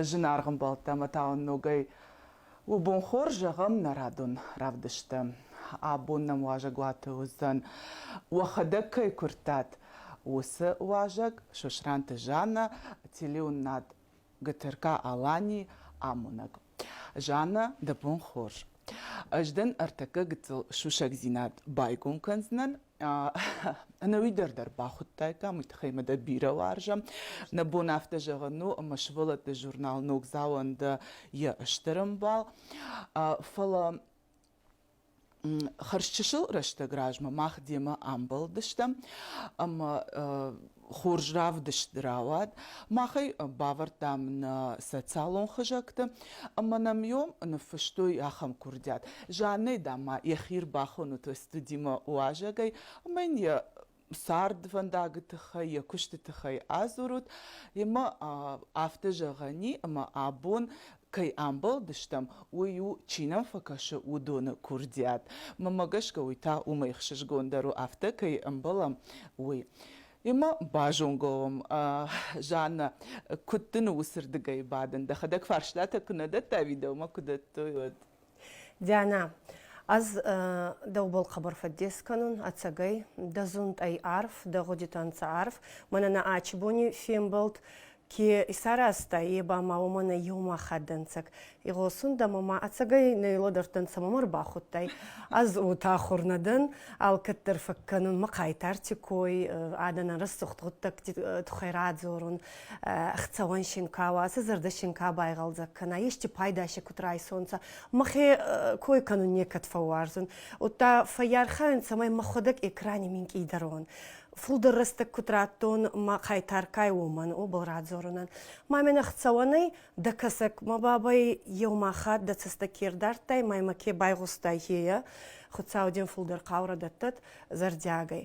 зынаргъ ӕмбӕлттӕ ӕмӕ та уын ногӕй у бон хорз зӕгъӕм нӕ радон равдысты абон нӕм уазӕгуаты уыдзӕн уӕхӕдӕг кӕй куырдтат уыцы уазӕг Сосранты Жанна телеуынынад ГТРК-Аланийы амонӕг Жанна дӕ бон хорз. Ӕз дын ӕртӕккӕ гыццыл сусӕгдзинад байгом кӕндзынӕн. Ӕнӕуи дӕр дӕр бахуыдтаиккам, уый тыххӕй мӕ дӕ бирӕ уарзӕм. Нӕ бон афтӕ зӕгъын у, ӕмӕ сывӕллӕтты журнал Ногдзау-ӕн дӕ йӕ стыр ӕмбал. Фӕлӕ хӕрзчысыл рӕстӕг размӕ мах демӕ амбӕлдыстӕм ӕмӕ хорз равдыст рауад. Мах ӕй бавӕрдтам нӕ социалон хызӕгты ӕмӕ нӕм йом ныффыстой ахӕм куырдиат. Жаннӕ, дам, ма йӕхи ӕрбахоны студимӕ уазӕгӕй ӕмӕ йын йӕ цардвӕндаджы тыххӕй, йӕ куысты тыххӕй адзурут, емӕ афтӕ зӕгъӕни, ӕмӕ абон кӕй амбӕлдыстӕм, уый у, чи нӕм фӕкӕсы, уыдоны курдиат. Мӕмӕ гӕсгӕ уый та уымӕй ӕхсызгондӕр у, афтӕ кӕй ӕмбӕлӕм, уый. Емӕ базонгӕ уӕм, Жаннӕ, куыд дын уыцырдыгӕй бадын? Дӕхӕдӕг фарстатӕ куы нӕ дӕттай, уый дӕумӕ куы дӕттой, уӕд? Диана, ӕз дӕубӕл хъӕбӕр фӕддес кӕнун ӕцӕгӕй, дӕ зундтӕй арф, дӕ гъудитӕ нцӕ арф, мӕнӕ нӕ ачи бони фембӕлд ке исаразта, е ба ма уомӕн ӕ еума хатт дӕнцӕг. Игъосун дӕмӕ ма ӕцӕгӕй нӕ лӕдӕрдтӕнцӕ, ма мӕ ӕрбахудтай. Ӕз утахур нӕ дӕн, алкӕддӕр фӕккӕнун мӕ хъайтарти кой, адӕнӕн рӕсугъд гъуддӕгти туххӕй радзорун. хцауӕн шинка уа, цы зӕрдӕ шинка байгъӕлдзӕг кӕна, исчи пайда си куд райсонцӕ, мӕхе кой кӕнун некӕд фӕууарзун. Удта фӕййархайун, цӕмӕй мӕхуӕдӕг экрани минкъийдӕр уон. Фулдӕр рӕстӕг куд раттон мӕ хъайтаркай уомӕн, уобӕл радзорунӕн. Ма мӕнӕ хцауӕнӕй дӕ кӕсӕг, мӕ бабай еума хатт дӕ цӕстӕ ке рдардтай ма ймӕ ке байгъустай, хея, Хуцау дин фулдӕр хъаурӕ дӕттӕд зӕрдиагӕй.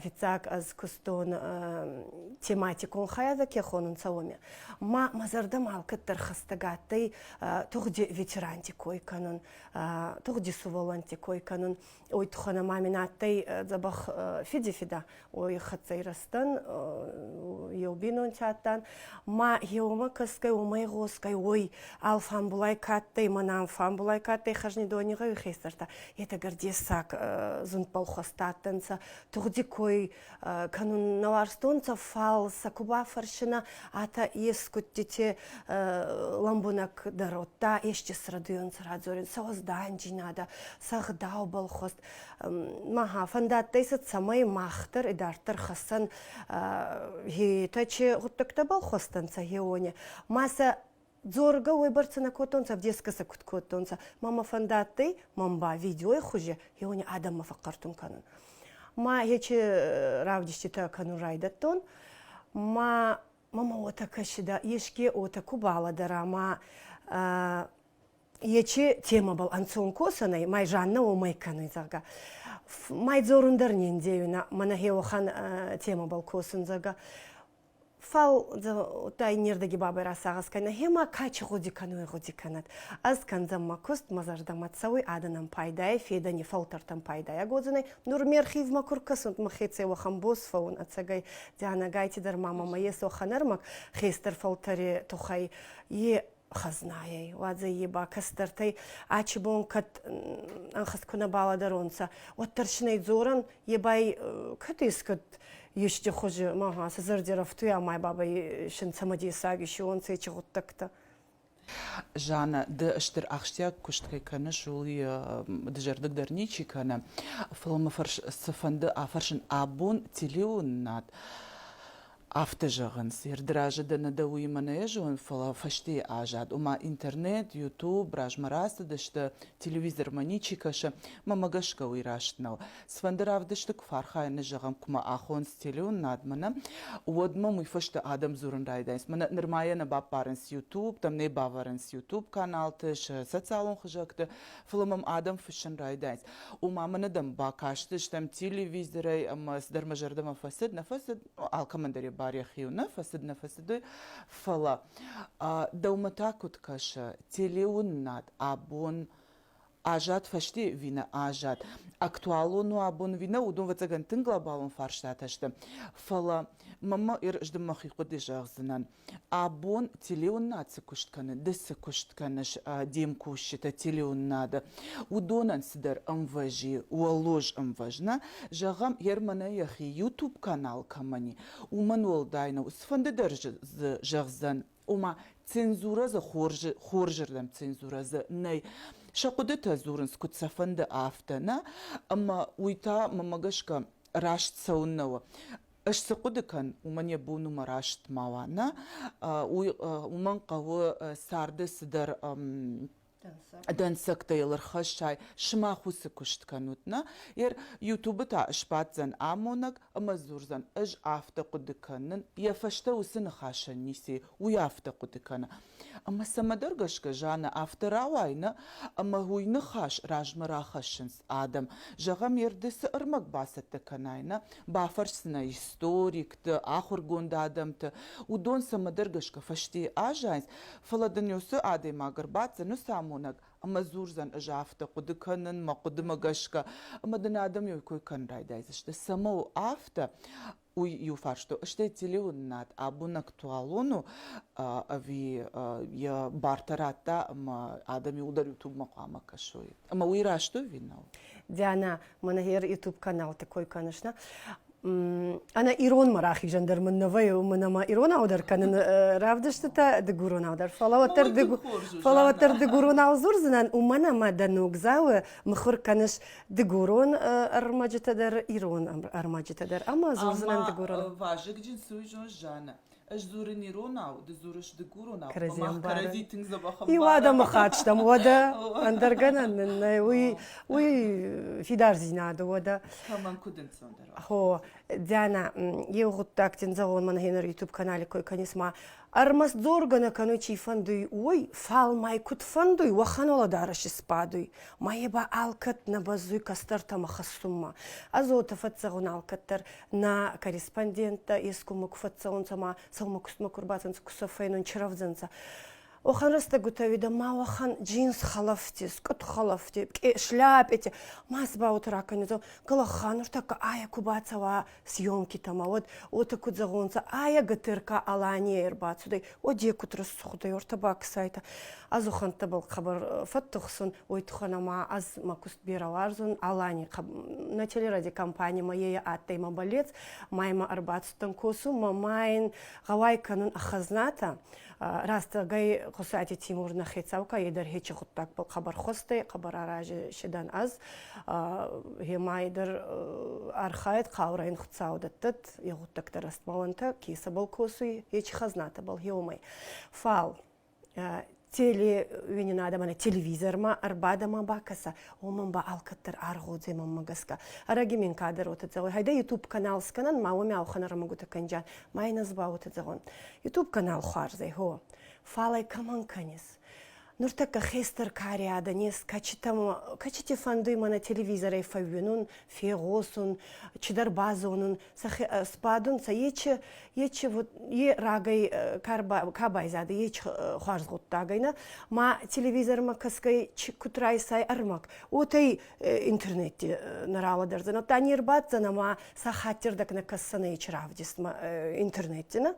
фиццаг ӕз кустон тематикон хайадӕ ке хонунцӕ уоми. Ма мӕ зӕрдӕмӕ алкӕддӕр хӕстӕг адтӕй тугъди ветеранти кой кӕнун, тугъди суволӕнтти кой кӕнун. Ой туххӕн ма мин адтӕй дзӕбӕх фиди фидӕ. Уой хӕццӕй рӕстӕн, еу бийнонти адтан, Ма еумӕ кӕсгӕй, уомӕй гъосгӕй, уой алфамбулай ка адтӕй, мӕнӕ фамбулай ка адтӕй хӕзнидони гъӕуи хестӕртӕ, етӕ гӕр дессаг зундбӕл хуӕстӕ адтӕнцӕ. Тугъди кой кӕнун нӕ уарзтонцӕ, фал сӕ ку бафӕрсинӕ, атӕ ескудтити лӕмбунӕг дӕр, удта ести срӕдуйонцӕ радзорун, сӕ уӕзданджийнадӕ, сӕ гъдаубӕл хуӕст. Маха, фӕндадтӕй сӕ цӕмӕй махтар идарддӕр хӕссӕн гетӕ че гуттӕгтӕ балхостӕнцӕ геоне. Ма сӕ дзоргӕ уойбӕрцӕ нӕ кодтонцӕ, в дескӕсӕ куд кодтонцӕ. Мама фӕндадтӕй, ман ба видеой хузӕ геоне адӕммӕ фӕхъхъӕртун кӕнун. Ма ечи э, равдиститӕ кӕнун райдӕдтон. Ма мама уотӕ кӕсидӕ, еске уотӕ ку балӕдӕра, ма Ечи темабыл ӕнцон косӕнӕй май Жанна омӕй кӕнуй, зӕгъгӕ. Май дзорун дӕр не ндейунӕ, мӕнӕ хеухан темабыл косун, зӕгъгӕ. Фал тай нердӕги бабай расагъӕс кӕнӕ, хема качи гъуди кӕнуй гъуди кӕнӕд. Ӕз кӕндзӕн мӕ куст, мӕ зӕрдӕмӕ цӕуй адӕнӕн пайдайӕ, федӕни фӕлтӕртӕн пайдайаг уодзӕнӕй. Нур ме рхизмӕ ку ркӕсунт, мӕхецӕй уӕхӕн бос фӕуун ӕцӕгӕй. Дианӕгайти дӕр ма мӕмӕ ес уӕхӕн ӕрмӕг, хестӕр фӕлтӕри туххӕй. Е хӕзнаей. Уадзӕй ба кӕстӕртӕй ачи бон кӕд ӕнхӕст ку нӕ балӕдӕронцӕ, уӕддӕр синӕй дзорӕн, е бай кӕд искӕд ести хузи, ма сӕ зӕрдирӕфтуй ӕма бабӕй син цӕмӕдесаг исиуонцӕ ечи гъуддӕгтӕ. Жаннӕ, ды стыр ахсджиаг куыст кӕй кӕныс, ууыл дызӕрдыг дӕр ничи кӕны, фӕлӕ мӕ фӕрс цыфӕнды афӕрсын абон телеуынынад Афтӕ зӕгъынц, ерды разы дӕ нӕ дӕ уыимӕ нӕ зонын, фӕлӕ фӕстейы аззад, ома интернет, ютуб, размӕ рацыдысты, телевизормӕ ничи кӕсы, мӕмӕ гӕсгӕ уый раст нӕу. Цыфӕнды равдысты куы фархайыны зӕгъӕм, куы мӕ ахон стелеоннадмӕ, нӕ, уӕд мӕм уый фӕстӕ адӕм дзурын райдайынц, мӕнӕ нырмӕйӕ нӕ баппарынц ютуб, там нӕ бавӕрынц ютуб каналты, сӕ социалон хызӕгты, фӕлӕ мӕм адӕм фыссын райдайынц. Ома мӕ нӕдӕм бакастыстӕм телевизорӕй ӕмӕ цыдӕр мӕ зӕрдӕмӕ фӕцыд, нӕ фӕцыд, алкӕмӕн дӕр йӕ бар йӕхи у, нӕ фӕцыд, нӕ фӕцыд, уый, фӕлӕ дӕумӕ та куыд кӕсы, телеуынынад абон азад фӕсте ӕви нӕ азад, актуалон у абон ӕви нӕ, уыдон ӕвӕццӕгӕн тынг глобалон фарстатӕ сты. Фӕлӕ мӕнмӕ ӕрыздын мӕхи хъуыды зӕгъдзынӕн. Абон телеуыннад цы куыст кӕны, ды цы куыст кӕныс де мкусджыты телеуыннады, уыдонӕн цыдӕр ӕмвӕзы, уӕллоз ӕмвӕз нӕ зӕгъӕм, гӕр мӕнӕ йӕхи YouTube канал кӕмӕн и, уымӕн уӕлдай нӕу, цыфӕнды дӕр дзы зӕгъдзӕн, ома цензурӕ дзы хорзы, хорзырдӕм цензурӕ дзы нӕй. Сӕ хъуыдытӕ дзурынц куыд сӕ фӕнды, афтӕ нӕ, ӕмӕ уый та, мӕмӕ гӕсгӕ, раст цӕуыннӕ у. Ӕз цы хъуыды кӕн, уымӕн йӕ бон у мӕ раст ма уа, нӕ? Уый уымӕн хъӕуы царды цыдӕр дӕнцӕгтӕ йыл ӕрхӕссай, сымах уыцы куыст кӕнут, нӕ? Ер Ютубы та ысбаддзӕн амонӕг ӕмӕ дзурдзӕн, ӕз афтӕ хъуыды кӕнын, йӕ фӕстӕ уыцы ныхасӕн ницы, уый афтӕ хъуыды кӕны. Ӕмӕ цӕмӕдӕр гӕсгӕ Жаннӕ афтӕ рауайы, нӕ? Ӕмӕ уый ныхас размӕ рахӕссынц адӕм. Зӕгъӕм, йе рдыцы ӕрмӕг бацӕттӕ кӕнай, нӕ? Бафӕрсдзынӕ историкты, ахуыргонд адӕмты. Уыдон цӕмӕдӕр гӕсгӕ фӕстейы аззайынц, фӕлӕ дын уыцы адӕймаг ӕрбаддзӕн уыцы амонӕг ӕмӕ дзурдзӕн, ӕз афтӕ хъуыды кӕнын мӕ хъуыдымӕ гӕсгӕ, ӕмӕ дын адӕм йӕ кой кӕнын райдайдзысты. Цӕмӕ у афтӕ? уый иу фарсту стӕй телеуынынад абон актуалон у ӕви йӕ бартӕ радта ӕмӕ адӕм иууылдӕр ютубмӕ хъуамӕ кӕсой ӕмӕ уый рӕзт уый нау Диана Манагер YouTube каналты кой кӕныс нӕ ӕнӕ иронмӕ рахизӕн дӕр мын нӕ вӕйы уымӕн ӕмӕ иронау дӕр кӕныны равдыстытӕ дыгуронау дӕр фӕлӕ уӕддӕр фӕлӕ уӕддӕр дыгуронау дзурдзынӕн уымӕн ӕмӕ дӕ ногдзауы мыхуыр кӕныс Дыгурон ӕрмӕджытӕ дӕр, ирон ӕрмӕджытӕ дӕр ӕмӕ дзурдзынӕн дыгуронау. Вазыгджын суйжон Жаннӕ. Ӕз дзурын иронау, ды дзурыс дыгуронау. Мах кӕрӕдзи тынг дзӕбӕх ӕмбарӕм. Иу адӕмыхатт стӕм, уӕдӕ ӕндӕр гӕнӕн нын нӕй, уый уый фидардзинады уӕдӕ. Кӕмӕн куыд ӕнцондӕр уа. Хо, Диана, иу гъуддаг дин зӕгъон, мӕн гъеныр YouTube каналы кой кӕнис ма Ӕрмӕст дзоргӕ нӕ кӕнуй чи фӕндуй, уой, фал ма куд фӕндуй, уӕхӕн уӕлӕдарӕс исбадуй, ма е ба алкӕд нӕ бӕззуй кӕстӕртӕмӕ хӕссунмӕ. Ӕзотӕ фӕццӕгъун алкӕддӕр, нӕ корреспонденттӕ ескумӕ ку фӕццӕунцӕ ма сӕумӕ кустмӕ ку рбацӕнцӕ, ку сӕ фӕйнон чирӕвдзӕнцӕ, уӕхӕн рӕстӕгутӕ уидӕ ма уӕхӕн джинс хӕлӕфти, скъут хӕлӕфти, шляпети ма си ба уотӕ ракӕнуцӕ, калаххӕ нуртӕккӕ айӕ ку бацӕуа съемкитӕмӕ, уӕд уотӕ куд зӕгъонцӕ, айӕ ГТРК Алания ӕрбацудӕй, уӕдӕ куд рӕсугъдӕй уортӕ бакӕсайтӕ. Азухӕнттӕбӕл хъӕбӕр фӕттухсун, уой туххӕн ӕма ӕз мӕ куст берӕ уарзун Алани на телерадиокомпанимӕ е адтӕй мӕ болец, ма ймӕ ӕрбацудтӕн косунмӕ, ма йин гъӕуай кӕнун ӕ хӕзнатӕ. Рӕстӕгӕй Хъусати Тимур нӕ хецау ка, е дӕр хечи гъуддагбӕл хъӕбӕр хуӕстӕй, хъӕбӕр арази шидӕн ӕз. Гемай дӕр архайд хъаурӕн хуцау дӕттӕт егъуттӕгтӕ рӕстмалантӕ кесӕбӕл косуй ечи хӕзнатӕбӕл еумӕй. Фал телеуини адӕмӕн телевизормӕ ӕрбадӕмӕ бакӕса, уомӕн ба алкӕддӕр аргъодземӕмӕ гӕсгӕ. Ӕрӕги мин кадӕр уотӕ зӕгъуй, хайдӕ YouTube канал скӕнӕн, ма уоми ӕлхӕн ӕрмӕгутӕ кӕнджан, ма ин ӕз ба уотӕ зӕгъун. YouTube канал хуарзӕй, хо, фал ӕй кӕмӕн кӕнис? Нуртӕккӕ хестӕр кариадӕ нез кӕчитӕмӕ, кӕчити фӕндуй мӕнӕ телевизорӕй фӕууинун, фегъосун, цидӕр базонун, сӕхе сбадун, сӕ ечи, ечи вот, е рагӕй ка байзадӕй, ечи хуарз гъуддаг ӕй, ма телевизормӕ кӕсгӕй куд райсай ӕрмӕг, уотӕй интернетти нӕ рауадӕрдзӕн. Оттӕ не рбаддзӕнӕ ма сӕ хаттирдӕг нӕ кӕссӕнӕ ечи равдистмӕ интернетти, нӕ?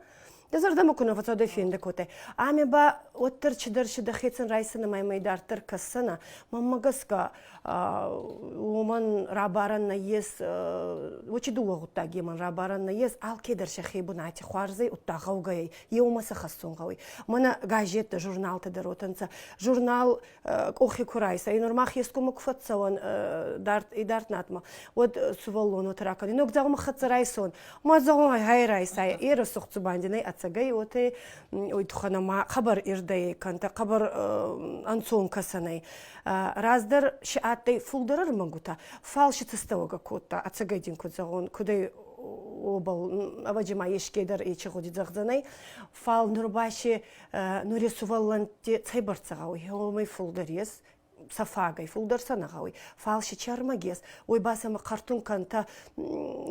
Дӕ зӕрдӕмӕ куы нӕ фӕцӕуӕд фенды кодтай. Ӕмӕ ба уӕддӕр чидӕр чи дӕхецӕн райсыны мӕймӕ дарддӕр кӕсдзӕнӕ. Мӕнмӕ гӕсгӕ, уымӕн рабарӕн нӕййес, очи дууӕ гъуддагемӕн рабарӕн нӕййес, алкедӕр сӕхе бунати хуарзӕй удта гъӕугӕй еумӕ сӕ хӕссун гъӕуй. Мӕнӕ газеттӕ, журналтӕ дӕр уотӕнцӕ. Журнал къохи ку райса, и нормах ескумы ку фӕццӕуӕн идард натмӕ, уӕд сувӕллонот ракӕн. Ног зӕгъмӕ хӕццӕ райсон, ма зӕгъмӕ хай райсай, ира сухцу бандинай ацагай, оте уйтуханама хабар ирдӕй кӕнта, хабар ӕнцон кӕсанай. Раздӕр си адтӕй фулдӕр ӕрмӕгутӕ, фал си цӕстӕуагӕ кодта, ацагай дин куд зӕгъон, кудӕй обал, ӕвӕджи ма ескейдӕр ечи гъуди зӕгъдзӕнӕй, фал нур ба си нуре сувӕллӕнтти цӕйбӕрцӕ гъӕуй, уомӕй фулдӕр ес, сӕ фагӕй фулдӕр сӕ нӕ гъӕуй. Фал си чармӕг ес, уой ба сӕмӕ хъӕртун кӕнтӕ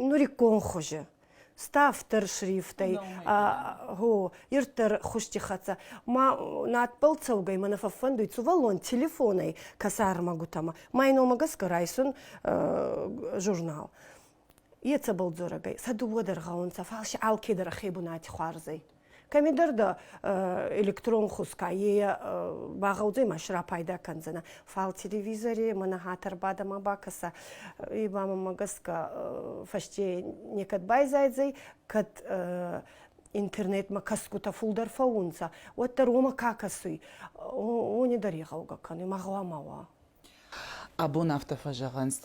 нуриккон хузи ставддӕр шрифтӕй, гъо, ирддӕр хузти хӕццӕ. Ма надбӕл цӕугӕй мӕнӕ фӕффӕндуй сувӕллон телефонӕй кӕсӕрмӕгутӕмӕ мӕй номӕ гӕсгӕ райсун журнал. Ецӕбӕл дзорӕг ӕй, сӕ дууӕ дӕр гъӕунцӕ, фал си алкедӕр ӕхе бунати хуарзӕй. Кӕмидӕр дӕ электрон хузка, е ба гъӕудзӕй ма си рапайда кӕндзӕнӕ. Фал телевизори мӕнӕ хатӕр бадӕмӕ бакӕсӕ, е ба мӕмӕ гӕсгӕ фӕсте некӕд байзайдзӕй, кӕд интернетмӕ кӕсгутӕ фулдӕр фӕуунцӕ, уӕддӕр уомӕ ка кӕсуй, уони дӕр игъӕугӕ кӕнуй, ма гъӕуама уа. Абон афтӕ фӕзӕгъынц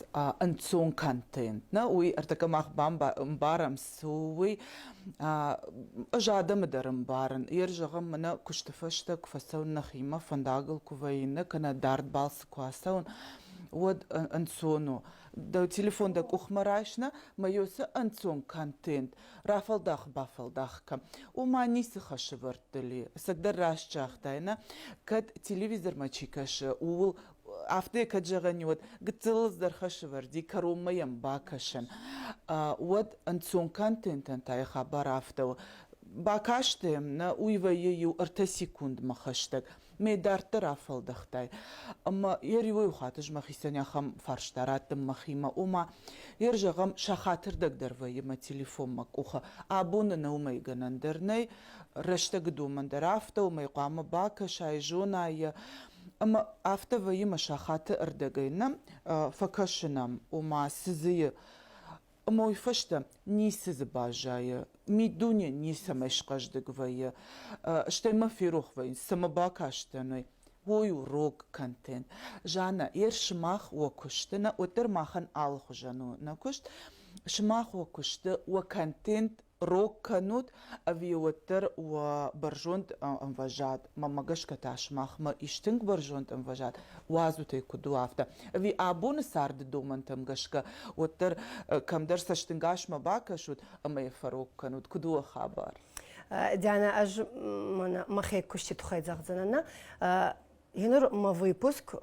ӕнцон контент. Нӕ уый ӕртӕкӕ мах бамбарӕм, цы у уый. Ӕз адӕмы дӕр ӕмбарын. Ер зӕгъӕм, мӕнӕ куысты фӕстӕ куы фӕцӕуын нӕхимӕ, фӕндагыл куы вӕййын, нӕ кӕнӕ дард балцы куы ацӕуын, уӕд ӕнцон у. Дӕ телефон дӕ къухмӕ райс, нӕ, мӕ йё цы ӕнцон контент. Рафӕлдах-бафӕлдах кӕ. Ома ницы хӕсывӕрдты ли. Цыдӕр раст загътай, нӕ? Кӕд телевизормӕ чи кӕсы, ууыл афтӕ кӕд зӕгъӕн и, уӕд гыццылыл дӕр хӕсывӕрди кӕронмӕ йӕм бакӕсӕн, уӕд ӕнцон контентӕн та йӕ хабар афтӕ у. Бакасты, нӕ уый вӕййы иу ӕртӕ секундмӕ хӕстӕг. ме дарддӕр афӕлдӕхтай ӕмӕ йӕ риуӕй хатыз мӕхицӕн ахӕм фарста раттын мӕхимӕ ома йӕ зӕгъӕм сӕ хатырдӕг дӕр вӕййы мӕ телефон мӕ къухы абоны нӕ уымӕй гӕнӕн дӕр нӕй рӕстӕгы домӕн дӕр афтӕ уымӕй хъуамӕ бакӕсай зона йӕ ӕмӕ афтӕ вӕййы мӕ сахаты ӕрдӕгӕй нӕ фӕкӕсынӕм ома цы дзы уый фӕстӕ ницы дзы баззайы, миддуне ницӕмӕй схъӕздыг вӕййы, стӕй мӕ ферох вӕййынц, цы мӕ бакастӕной, уой у рог контент. Жанна, ер сымах уӕ куысты, нӕ уӕддӕр махӕн алыхуызӕн у нӕ куыст, сымах уӕ куысты, уӕ контент рог кӕнут ӕви уӕддӕр уӕ бӕрзонд ӕмвӕзад, мӕмӕ гӕсгӕ та сымахмӕ истынг бӕрзонд ӕмвӕзад уадзут ӕй куыд у афтӕ. Ӕви абоны царды домӕнтӕм гӕсгӕ уӕддӕр кӕмдӕр цӕстынгасмӕ бакӕсут ӕмӕ йӕ фӕрог кӕнут, куыд у хабар? Диана, ӕз мӕнӕ мӕхе куысты тыххӕй зӕгъдзынӕн. Еныр мӕ выпуск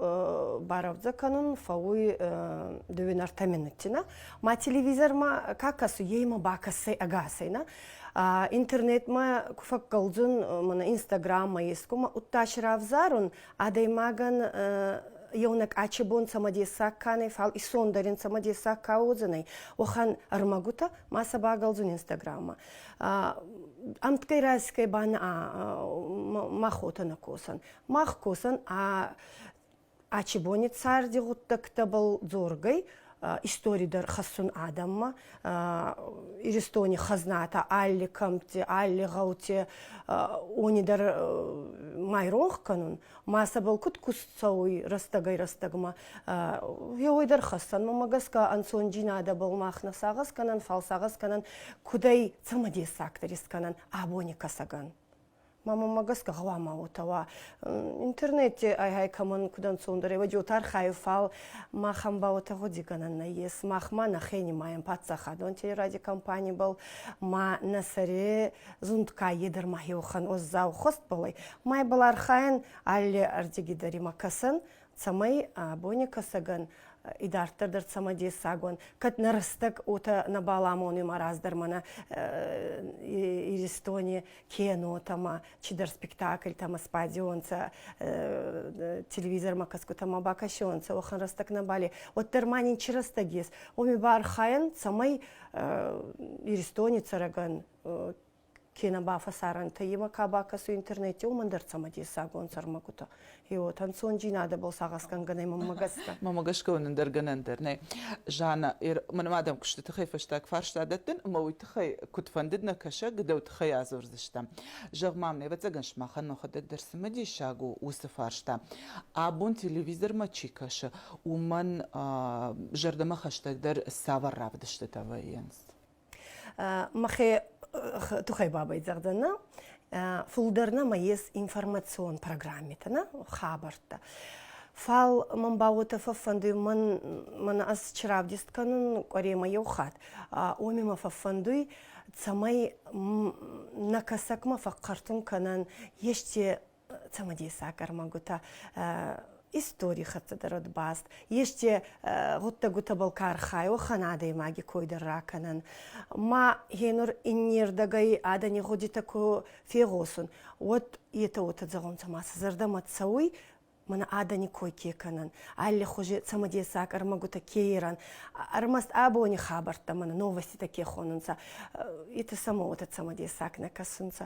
барӕвдзӕ кӕнун фӕууй дювинартӕ минуттина. Ма телевизормӕ ка кӕсуй, еймӕ бакӕсӕй ӕгасӕйнӕ. Интернетмӕ ку фӕккӕлдзун мӕнӕ Инстаграммӕ ескумӕ удтас равзарун, адӕймагӕн еунӕг ачи бон цӕмӕдесаг кӕнӕй, фал исондӕрин цӕмӕдесаг ка уодзӕнӕй, уӕхӕн ӕрмӕгутӕ ма сӕ багӕлдзун Инстаграммӕ. Ӕмткӕй райсгӕй ба нӕ ма хотӕ нӕ косӕн. Мах косӕн ӕ ачибони царди гъуддӕгтӕбӕл дзоргӕй, истори дӕр хӕссун адӕммӕ. Иристони хӕзнатӕ алли кӕмтти, алли гъӕути уони дӕр ма иронх кӕнун, ма сӕбӕл куд куст цӕуй рӕстӕгӕй-рӕстӕгмӕ, еуой дӕр хӕссӕн. Мӕмӕ гӕсгӕ ӕнцондзийнадӕбӕл мах нӕ сагъӕс кӕнӕн, фал сагъӕс кӕнӕн, куд ӕй цӕмӕдессагдӕр искӕнӕн абони кӕсӕгӕн. мамонмӕ гӕсгӕ гъӕуама уотӕ уа. Интернетти ай-ай кӕмӕн куд ӕнцондӕр ӕй, уодиотархайи фал махӕн ба уотӕ гъуди гӕнӕн нӕййес. Мах ма нӕ хенимайӕн паддзахадон телеради компанибӕл ма нӕ сӕре зундкаййи дӕр ма еухӕн уӕззау хуст, бал ӕй. Ма йбӕл архайӕн алли ӕрдиги дӕр имӕ кӕсӕн, цӕмӕй бонекӕсӕгӕн идарддӕр дӕр цӕмӕдессаг уӕн, кӕд нӕ рӕстӕг уотӕ нӕ баламонуй раздӕр мӕнӕ Иристони кинотӕмӕ, чидӕр спектакльтӕмӕ сбадионцӕ, телевизормӕ кӕсгутӕмӕ бакӕсионцӕ, уӕхӕн рӕстӕг нӕбали. Уӕддӕр ма нинчи рӕстӕг ес, уоми бархайӕн, цӕмӕй Иристони цӕрӕгӕн кенӕ ба фӕсарӕнтӕ имӕ ка бакӕсуй интернетти, уомӕн дӕр цӕмӕдесагон сӕрмӕгутӕ. Еуот ӕнцондзийнадӕбӕл сагъӕсгӕнгӕнӕй мӕммӕ гӕсгӕ. Мӕмӕ гӕсгӕ уонӕн дӕр гӕнӕн дӕр нӕй. Жаннӕ, мӕнӕ ма дӕм кусты тыххӕй фӕстаг фарста дӕттын, ӕмӕ уый тыххӕй куыд фӕндыд нӕ кӕсӕг, дӕу тыххӕй адзурдзыстӕм. Зӕгъ-ма мын, ӕвӕццӕгӕн сымахӕн мӕхӕдӕг дӕр цымыдисаг у уыцы фарста, абон телевизормӕ чи кӕсы, уымӕн зӕрдӕмӕ хӕстӕгдӕр цавӕр равдыстытӕ вӕййынц? мӕхе туххӕй бабӕй зӕгъдӕнӕ фулдӕрнӕ ма ес информацион программитӕ хабӕрттӕ. Фал мӕн ба уотӕ фӕффӕндуй, мӕнӕ ӕз чи равдест кӕнун къуӕремӕ еу хатт, уоми мӕ фӕффӕндуй, цӕмӕй нӕ кӕсӕгмӕ фӕхъхӕртун кӕнӕн ести цӕмӕдесаг ӕрмӕгутӕ истори хӕццӕ дӕр ӕд баст. Есте гъуддӕгутӕбӕл ка архайа, уӕхӕн адӕймаги койдӕр ракӕнӕн. Ма гьенур иннердӕгӕй адӕни гъудитӕ ку фегъосун, уӕд етӕ уотӕ зӕгъунцӕ, ма сӕ зӕрдӕмӕ цӕуй, мӕнӕ адӕни кой ке кӕнӕн, аллихузи цӕмӕдесаг ӕрмӕгутӕ ке ерӕн, ӕрмӕст абони хабӕрттӕ мӕнӕ новоститӕ ке хонунцӕ, етӕ сӕмӕ уотӕ цӕмӕдесаг нӕ кӕсунцӕ.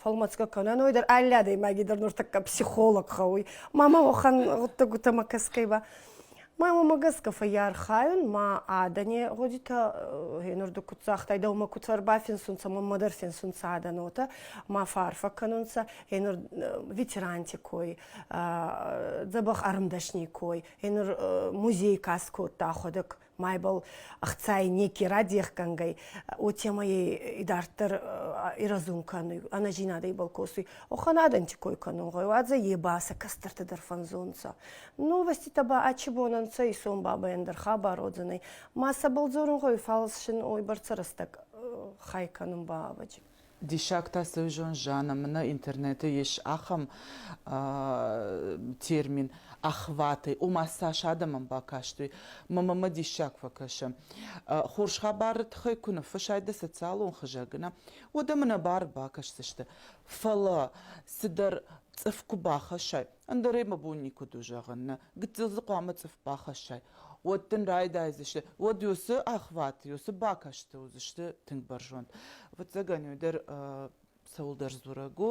фӕлмӕцгӕ кӕнӕн ой дӕр алли адӕймаги дӕр нуртӕккӕ психолог хауй мамӕ уӕхӕн гъуддӕгутӕмӕ гӕсгӕй ба ма мамӕ гӕсгӕ фӕййархайун ма адӕни гъудитӕ гъенурду ку цагътайдӕ ума ку ӕрбафинсунцӕ маммӕ дӕр финсунцӕ адӕнотӕ ма фарфа кӕнунцӕ гъенур ветеранти кой дзӕбӕх ӕрмдӕсни кой гъенур музей каст кодта ӕхуӕдӕг майбал хцай неки радехгӕнгӕй, уотемӕй идарддӕр ирӕзун кӕнуй, ӕнӕзийнадӕй бал косуй. Охӕн адӕнти кой кӕнун гъӕуй, уадзӕ е ба сӕ кӕстӕртӕ дӕр фӕнзунцӕ. Новоститӕ ба ачи бон ӕнцӕ, исон бабайӕн дӕр хабар уодзӕнӕй. Ма сӕбӕл дзорун гъӕуй, фал сын уойбӕрцӕ рӕстӕг хай кӕнун ба ӕвӕджи. Диссаг та союзон зӕнӕм нӕ интернеты ис ахӕм термин охваты, ома цас адӕмӕн бакастой. МММ диссаг фӕкӕсы. Хорз хабары тыххӕй куы ныффысай дӕ социалон хызӕгы, нӕ, уӕд ӕм нӕ бар бакӕсдзысты. Фӕлӕ цыдӕр цъыф куы бахӕссай, Ӕндӕр ӕй мӕ бон никуыд у зӕгъын, нӕ гыццыл дзы хъуамӕ цъыф бахӕссай, уӕд дын райдайдзысты, уӕд йо цы ӕхват, йо цы бакӕсты уыдзысты тынг бӕрзонд. Ӕвӕццӕгӕн, уый дӕр цӕуылдӕр дзурӕг у,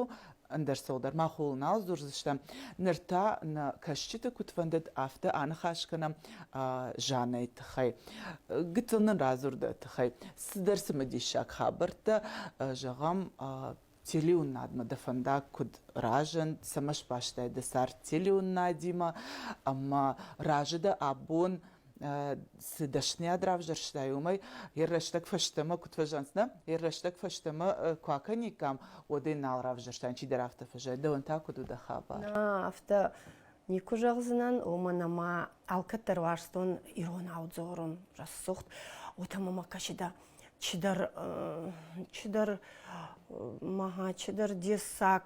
ӕндӕр цӕуылдӕр мах ууыл нал дзурдзыстӕм. Ныр та нӕ кӕсджыты куыд фӕндыд, афтӕ аныхас кӕнӕм Жаннӕйы тыххӕй. Гыццыл нын радзурды тыххӕй цыдӕр цымыдисаг хабӕрттӕ зӕгъӕм телеуыннадмӕ дӕ фӕндаг куыд разынд, цӕмӕ сбастай дӕ цард телеуыннадимӕ ӕмӕ разы дӕ абон цы дӕсныйад равзӕрстай, уымӕй йӕ рӕстӕг фӕстӕмӕ куыд фӕзӕнцнӕ, йӕ рӕстӕг фӕстӕмӕ куы акӕниккам, уӕд ӕй нал равзӕрстан, чидӕр афтӕ фӕзӕйы, дӕуӕн та куыд у дӕ хабар? Нӕ, афтӕ никуы зӕгъдзынӕн, уымӕн ӕмӕ алкӕддӕр уарзтон ирон аудзорон, рӕсугъд, уотӕ мӕмӕ кӕсы дӕ Чидӕр чидӕр дессаг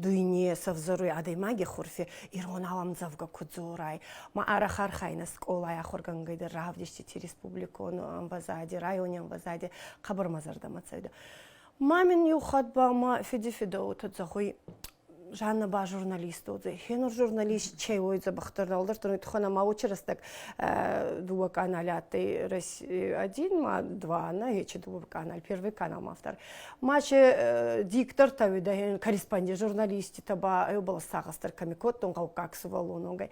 дуйне сӕвзӕруй адӕймаги хурфи ирон аламдзӕвгӕ ку дзорай. Ма ӕрахархайнӕ скъолай ахургӕнгӕйдӕр равдистити республикон ӕмвӕзади, райони ӕмвӕзади хъӕбӕрмӕ зӕрдӕмӕ цӕуидӕ. Ма мин еу хатт ба ма феди-федауотӕ зӕгъуй, Жанна ба журналист уодзӕй. Хенур журналист че уойдзӕ бахтыр налдӕртон тухӕн ама очерстӕк дуа каналь адтӕй Россия один ма два на хече дуа каналь первый канал автор. Маче диктор тауида корреспондент журналистите ба ебал сагастар комикоттон каукак сувалунонгай.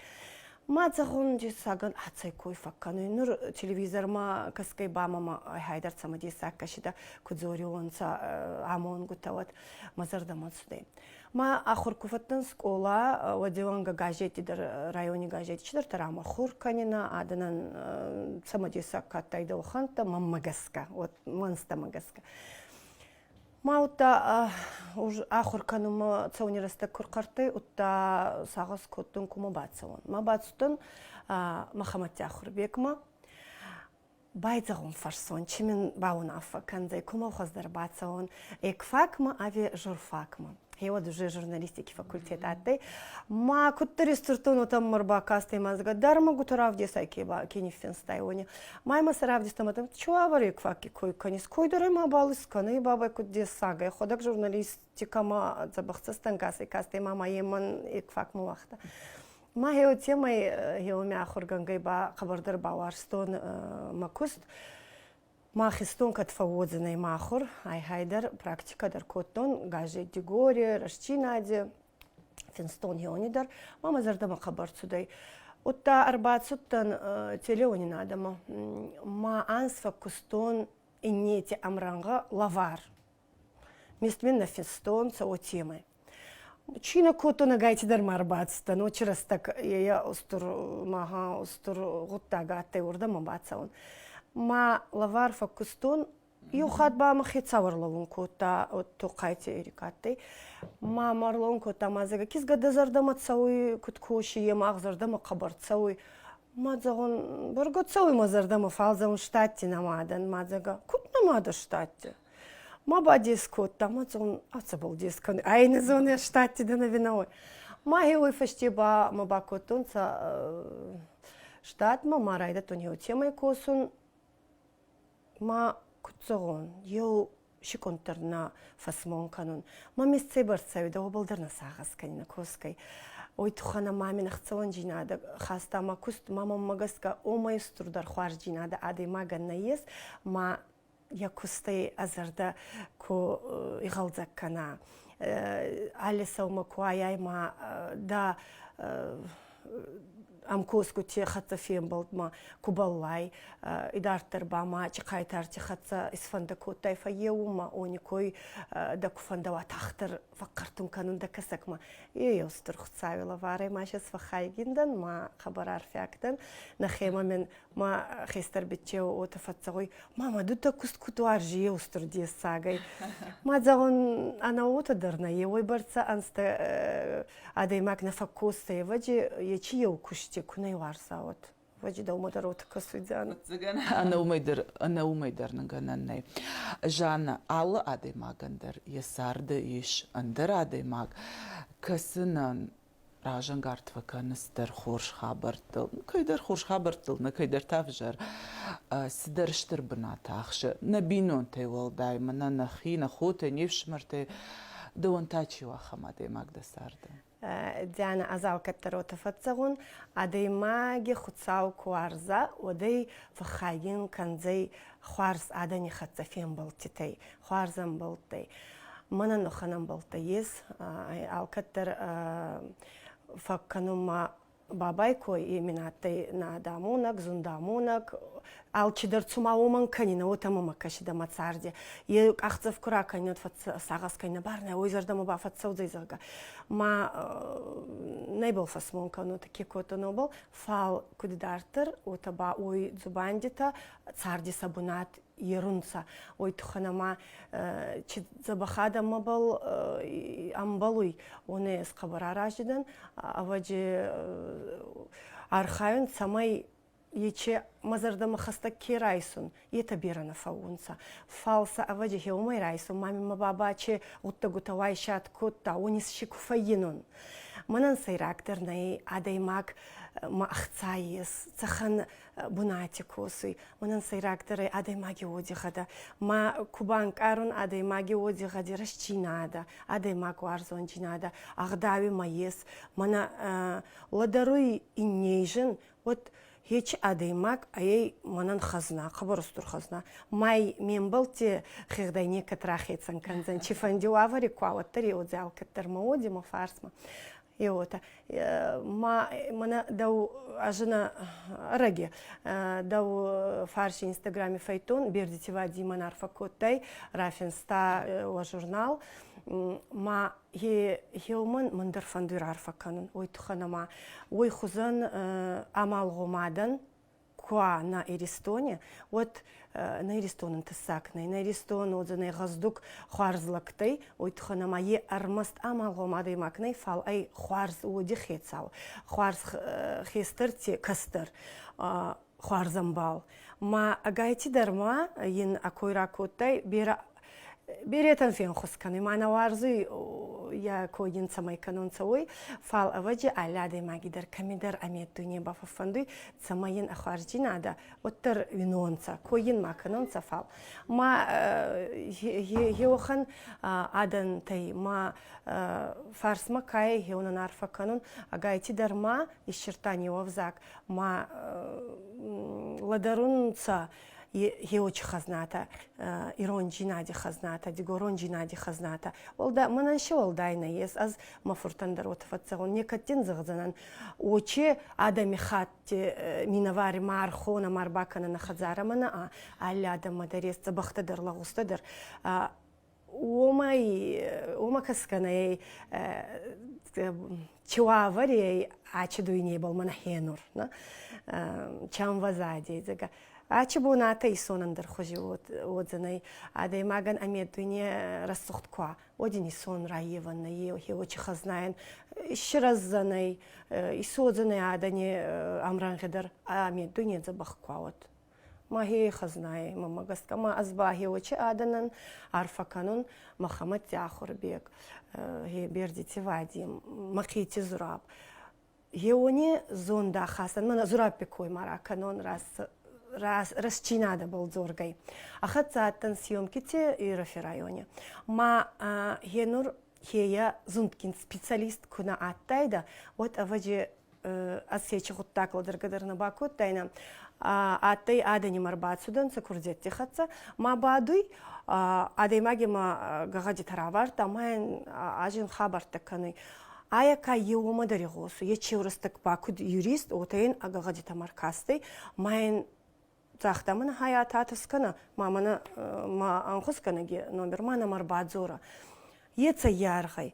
Ма цахон саган ацай кой факканы. Нур телевизор ма каскай ба мама хайдар цама десак кашида кудзорионца амонгу тауат. мӕ зӕрдӕмӕ цудӕй. Ма ахур ку фӕдтӕн скъола, уӕдеуӕнгӕ газети дӕр, райони газети чидӕртӕ рамӕ хур кӕнинӕ, адӕнӕн цӕмӕдесаг ка адтайдӕ, уӕхӕнттӕ, мӕнмӕ гӕсгӕ, вот мӕнзтӕмӕ гӕсгӕ. Ма удта ахур кӕнунмӕ цӕуни рӕстӕг ку рхъӕрттӕй, удта сагъӕс кодтон ку мӕ бацӕуӕн. Ма бацудтӕн Мӕхӕмӕти Ахурбекмӕ. Байдзӕгъун фӕрсон, чи мин баунаффӕ кӕндзӕй, кумӕлхуӕз дӕр бацӕун ӕ кфакмӕ ӕви журфакмӕ. Гьеуӕд уже журналистики факультет адтӕй. Ма куддӕр истуртон, уотӕ мӕ рбакастӕй мӕзгӕ дӕр ма гутӕ равдесай ке ниффинстай, уони. Ма ма сӕ равдестам, адӕм, чуавӕри кфаки кой кӕнис, койдорӕй ма бал искӕнай бабай куд дессагӕй, ходӕг журналистикӕмӕ дзӕбӕхдзӕстӕнгасӕй кастӕй, ма ма емӕн е кфакмӕ уагъта. Ма хеу темай хеумӕ ахургӕнгӕй ба хъабардӕр бауарстон мӕ куст. Ма хистон кӕд фӕуодзӕнӕй махур, ай-хай дӕр практикӕ дӕр кодтон, газетти горе, рӕстчинаде, финстон хеуни дӕр, ма мӕ зӕрдӕмӕ хъӕбӕр цудӕй. Удта ӕрбацудтӕн телеуонинадӕмӕ. Ма анз фӕккустон иннети ӕмрӕнгъӕ лӕвар. Местменно фестон цӕуо темы. Чина кото нагайти дӕр ма рбацыдтӕн, очи рӕстӕг ея устур маха устур гъуддаг адтӕй уордӕмӕ бацӕун. Ма лӕвар фӕккустон, еу хатт ба мӕхе цауӕрлӕуун кодта Тохъайти Эрик адтӕй. Ма ма рлӕун кодта мадзага, кизгӕ дӕ зӕрдӕмӕ цӕуй, куд коси, е мах зӕрдӕмӕ хъӕбӕр цӕуй. Мадзагон, бӕргӕ цӕуй мӕ зӕрдӕмӕ, фал зӕгъун, штатти нӕма дӕн мадзага. Куд нӕма дӕ штатти? Ма бадес кодта, ма зон, ацӕбӕл дес кӕнуй. Ай не зонӕ штатти дӕ навиновой. Мӕхе уой фӕсте ба мӕ бакодтонцӕ штатмӕ, ма райдӕдтон еу темӕй косун. Ма куд зӕгъон, еу секунддӕр нӕ фӕсмон кӕнун. Ма месцӕй бӕрцӕуидӕ, уобӕл дӕр нӕ сагъӕс кӕнинӕ косгӕй. Ой туххӕнӕ мамин ӕхцӕуӕндзийнадӕ хаста ма куст. Ма мӕммӕ гӕсгӕ, омӕй устурдӕр хуарздзийнадӕ адӕймагӕн нӕййес, ма йӕ куыстӕй а зӕрдӕ куы игъӕлдзӕг кӕна. Алы сӕумӕ куы аяй ма да ӕмкосгути хӕццӕ фембӕлдмӕ ку баллай, идарддӕр ба ма чехайтарти хӕццӕ исфӕндӕ кодтай фӕййеумӕ, они кой дӕ ку фӕндӕуа тахтӕр фӕхъхӕртун кӕнун дӕ кӕсӕгмӕ. Ейеу стур Хуцауи лӕварӕй ма сейчас фӕххайгин дӕн, ма хабар арфиаг дӕн. Нӕхемӕ мин ма хестӕр бетте уотӕ фӕццӕгъуй ма ма дутӕ куст куд уарзи еустур дессагӕй ма зӕгъун ӕнӕ уотӕ дӕр нӕ еуой бӕрцӕ ӕнзтӕ э, адӕймаг нӕ фӕккосцӕ евӕди ечи еу кусти ку нӕ иуарза уот ваджи дӕумӕ дӕр уотӕ кӕсуйдзӕнӕ Фӕццӕгӕн ӕнӕумӕй дӕр ӕнӕумӕй дӕр нӕ гӕнӕн нӕй. Жанна, алы адӕймагӕн дӕр йӕ царды ис ӕндӕр адӕймаг, кӕсынӕн, разӕнгард фӕкӕныс дӕр хорз хабӕрттыл, кӕйдӕр хорз хабӕрттыл, нӕ кӕйдӕр та взӕр. Цыдӕр стыр бынат ахсы нӕ бинонтӕй уӕлдай, мӕнӕ нӕхи, нӕ хотӕ, не фсымӕртӕй. Дӕуӕн та чи у ахӕм адӕймаг дӕ царды? Диана, ӕз алкӕддӕр уотӕ фӕццӕгъун, адӕймаги Хуцау ку уарза, уӕд ӕй фӕххайгин кӕндзӕй хуарз адӕни хӕццӕ фембӕлдтитӕй. хуарзӕмбӕлттӕй. Мӕнӕн охӕнӕмбӕлттӕ ес, алкӕддӕр фӕккӕнун ма бабай кой еми адтӕй надамонӕг, зундамонӕг, алчидӕр цума уомӕн кӕнинӕ, уотӕ мӕмӕ кӕсидӕ мӕ царди. Е къахдзӕф ку ракӕнинӕ, сагъӕс кӕнинӕ, барнӕ, уой зӕрдӕмӕ бафӕццӕудзӕй, зӕгъгӕ. Ма нӕйбал фӕсмон кӕнунӕ, ке кодта нобал, фал куд дарддӕр, уотӕ ба уой дзубандитӕ царди сӕ бунат ерунца. Ой туххан ама чи дзӕбӕхадӕмӕбӕл ӕмбалуй, уонӕ ес хъӕбӕр аразидӕн, ӕвӕджи архайун, цӕмӕй ече мӕ зӕрдӕмӕ хӕстӕг ке райсун, етӕ берӕ нӕ фӕуунцӕ. Фал сӕ ӕвӕджи гьеумӕй райсун, мамимӕ баба аче гъуддӕгутӕ уайсат кодта, уони си ку фӕййинун. Мӕнӕн сӕйрагдӕр нӕй адӕймаг мӕ ӕхцай ес, цӕхӕн бунати косуй мунӕн сӕйрагдӕрӕй адӕймаги уодихӕдӕ ма ку банкъарун адӕймаги уодихӕди рӕстдзийнадӕ адӕймаг уарзондзийнадӕ ӕгъдауи ма ес мӕнӕ лӕдӕруй инней зин уӕд ечи адӕймаг айӕй мӕнӕн хӕзна хъӕбӕр устур хӕзна май ме мбӕлтти хегъдӕй некӕд рахецӕн кӕндзӕн цифӕнди уавӕри ку уӕддӕр еудзӕл кӕддӕр ма уоди ма фарсмӕ Еотӕ. Ма мӕнӕ дӕу ӕзына ӕрӕге. Дӕу фарси Инстаграми фӕйттон Бердити Вадимӕн арфӕ кодтай, рафинста уӕ журнал. Ма еумӕн мӕн дӕр фӕндуй раарфӕ кӕнун, уой туххӕн ӕма уой хузӕн амалгъомадӕн куа на Иристоне, уот на Иристонӕн тыссаг нӕй, на Иристон уодзӕнӕй гъӕздуг хуарзлӕгтӕй, уой туххӕн ӕма е ӕрмӕст амалгъом адӕймаг нӕй, фал ӕй хуарз уоди хецау, хуарз хестӕр те кӕстӕр хуарзӕмбал. Ма ӕгайти дӕр ма ин а кой ракодтай берӕ Беретӕн фенхус кӕнуй, мӕнӕ уарзуй йӕ кой ин цӕмӕй кӕнунцӕ, уой, фал ӕвӕджи алли адӕймаги дӕр кӕмидӕр ӕмеддуйне бафӕффӕндуй, цӕмӕй ин ӕхуарздзийнадӕ уӕддӕр уинонцӕ, кой ин ма кӕнунцӕ, фал ма еуӕхӕн адӕнтӕй ма фарсмӕ кайӕй еунӕн арфӕ кӕнун, агайти дӕр ма иссирдта неуӕвзаг, ма лӕдӕрунцӕ еочи хазната ирон джинади хазната дигорон джинади хазната олда мӕнӕн се олдайна ес аз ма фуртан дӕр уотӕ фӕццӕгун некӕттин зӕгъдзӕнӕн очи адами хатти минӕвари ма архона ма ӕрбакӕна на хӕдзарӕмӕ наа алле адӕммӕ дӕр ес дзӕбӕхтӕ дӕр лагъузтӕ дӕр уомӕй уомӕ кӕсгӕнӕй чуаварей ачи дуйнебӕл мӕнӕ хенур чамвазадей зӕгӕ ачи бунатӕ исонӕндӕр хузи уодзӕнӕй адӕймагӕн ами дуйне рӕсугъд ка уодин исон райевӕннӕ еуочи хазнайӕн иссирӕздзӕнӕй исодзӕнӕй адӕни ӕмрӕнгъи дӕр ами дуйне дзӕбӕх ка уод Мӕхе хӕзнаӕ мӕмӕ гӕсгӕ ма ӕз бахеуӕчи адӕнӕн арфӕ кӕнун Махаммад Тяхурбек, Бердити Вади, Махити Зураб. Еуони зондӕ хасӕн мӕнӕ Зурабпи коймӕ ракӕнон рӕсчинадӕбӕл дзоргӕй. Ӕхӕццӕ адтӕн съемкити Ирӕфи райони. Ма е нур Хея зундгин специалист ку нӕ адтайдӕ, уӕд, ӕвӕдзи, Осечи гъуддаг лӕдӕргӕ дӕр нӕ бакодтайнӕ. Адтӕй адӕнимӕ рбацудӕнцӕ курдиӕтти хӕццӕ. Ма бадуй, адӕймаги ма гӕгъӕдитӕ равардта, ма йин азин хабӕрттӕ кӕнуй. Айӕ ка е уомӕ дӕр игъосуй. Е чеурстӕг ба куд юрист, уотӕ ин ӕ гӕгъӕдитӕмӕ ӕркастӕй, ма йин Цагъта мын хайа татыс кӕна, ма мӕнӕ ма анхус кӕнӕг йӕ номер, ма нӕм ӕрбадзора. Ецӕ йаргъӕй.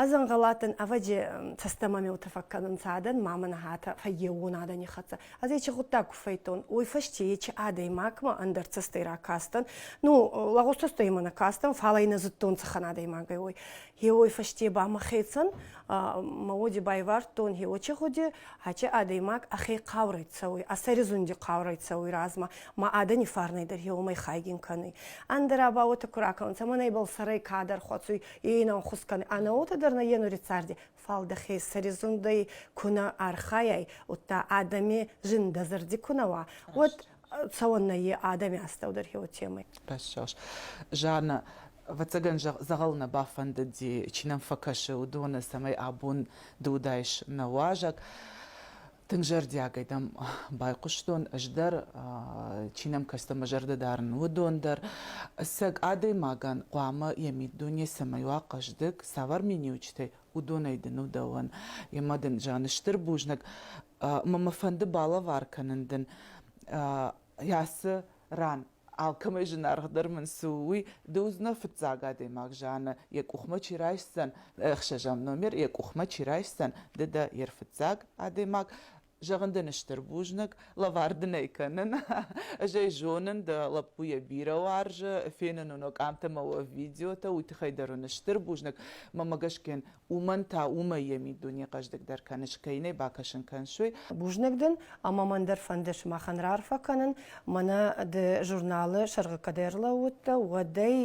Азӕнгӕлатӕн ӕвӕдзе цӕстӕмӕмеутӕ фӕккӕнун цадӕн, ма мӕн хатӕ фӕййеуон адӕни хӕццӕ. Ӕз ечи гъуддаг ку фӕйдтон, уой фӕсте ечи адӕймагмӕ ӕндӕр цӕстӕй ракастӕн. Ну, лӕгъустӕстӕй мӕ нӕ кастӕн, фал ӕй нӕ зудтон цӕхӕн адӕймагӕй, уой. Хеуой фӕсте ба мӕхецӕн мауоди байвардтон, хеуоче гъуди, аче адӕймаг ӕхе хъаурӕй цӕуй, ӕ сӕризунди хъаурӕй цӕуй размӕ ма адӕни фарнӕй дӕр хеуомӕй хайгин кӕнуй. Ӕндӕра ба уотӕ ку ракӕнунцӕ, мӕнӕбӕл сӕрӕй кадӕр хӕцуй, е ин ӕнхус кӕнуй, ӕнӕ уотӕ дӕр нӕййенури царди, фал дӕхе сӕризундӕй ку нӕ архайай, удта адӕми зиндӕ зӕрди ку нӕ уа, уӕд цӕуӕннӕ и адӕми астӕу дӕр еу темӕй. Рӕсугъд. Жанна, ӕвӕццӕгӕн дзӕгъӕл нӕ бафӕндыди, чи нӕм фӕкӕсы, уыдоны, цӕмӕй абон ды уыдаис нӕ уазӕг. Тынг зӕрдиагӕй дӕм байхъуыстон ӕз дӕр, чи нӕм кӕсты мӕ зӕрдӕ дарын, уыдон дӕр. Ӕцӕг адӕймагӕн хъуамӕ йӕ миддуне цӕмӕй уа хъӕздыг, цавӕр миниуджытӕй уыдонӕй дын у дӕуӕн. Йемӕ дын, Жанна, стыр бузныг мӕ фӕнды балӕвар кӕнын дын ацы ран алкӕмӕй зынаргъдӕр мын цы у, уый. Ды уыдзынӕ фыццаг адӕймаг зианы, йӕ къухмӕ чи райсдзӕн, ӕхсӕзӕм номер йӕ къухмӕ чи райсдзӕн, ды дӕ йе рфыццаг адӕймаг. Зӕгъын дын стыр бузныг, лӕвар дын ӕй кӕнын. Ӕз ӕй зонын, дӕ лӕппу йӕ бирӕ уарзы, фенын уын къамтӕ мӕ уӕ видеотӕ, уый тыххӕй дӕр уын стыр бузныг. Мамӕ Гашкен, уымӕн та уымӕй йӕ миддуне хъӕздыгдӕр кӕныс, кӕй нӕ бакӕсын кӕнсой. Бузныг дын, ӕмӕ мӕн дӕр фӕнды сымахӕн раарфӕ кӕнын, мӕнӕ ды журналы сӕргъы кӕд ӕрлӕууыдтӕ, уӕд ӕй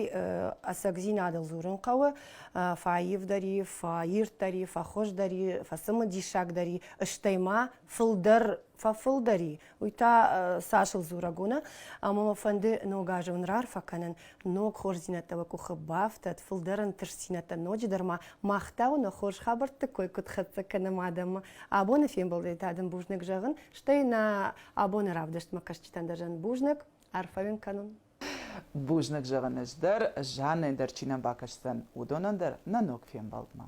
ӕцӕгдзинадыл дзурын хъӕуы, фӕаивдӕр и, фӕирддӕр и, фӕхуыздӕр и, фӕцымыдисагдӕр и, стӕй ма фылдӕр фӕфылдӕр и, Уый та Сашыл дзурӕг у нӕ, ӕмӕ мӕ фӕнды ног азы уын раарфӕ кӕнын, ног хорздзинӕдтӕ уӕ къухы бафтӕт, фылдӕр ӕнтыстдзинӕдтӕ ноджыдӕр ма мах та уын нӕ хорз хабӕртты кой куыд хӕццӕ кӕнӕм адӕммӕ. Абоны фембӕлдӕй та дын бузныг зӕгъын, стӕй нӕ абоны равдыстмӕ кӕсджытӕн дӕр зӕн бузныг, арфӕ уын кӕнон. Бузныг зӕгъын ӕз дӕр, Жаннӕ дӕр чи нӕ бакӕсдзӕн, уыдонӕн дӕр нӕ ног фембӕлдмӕ.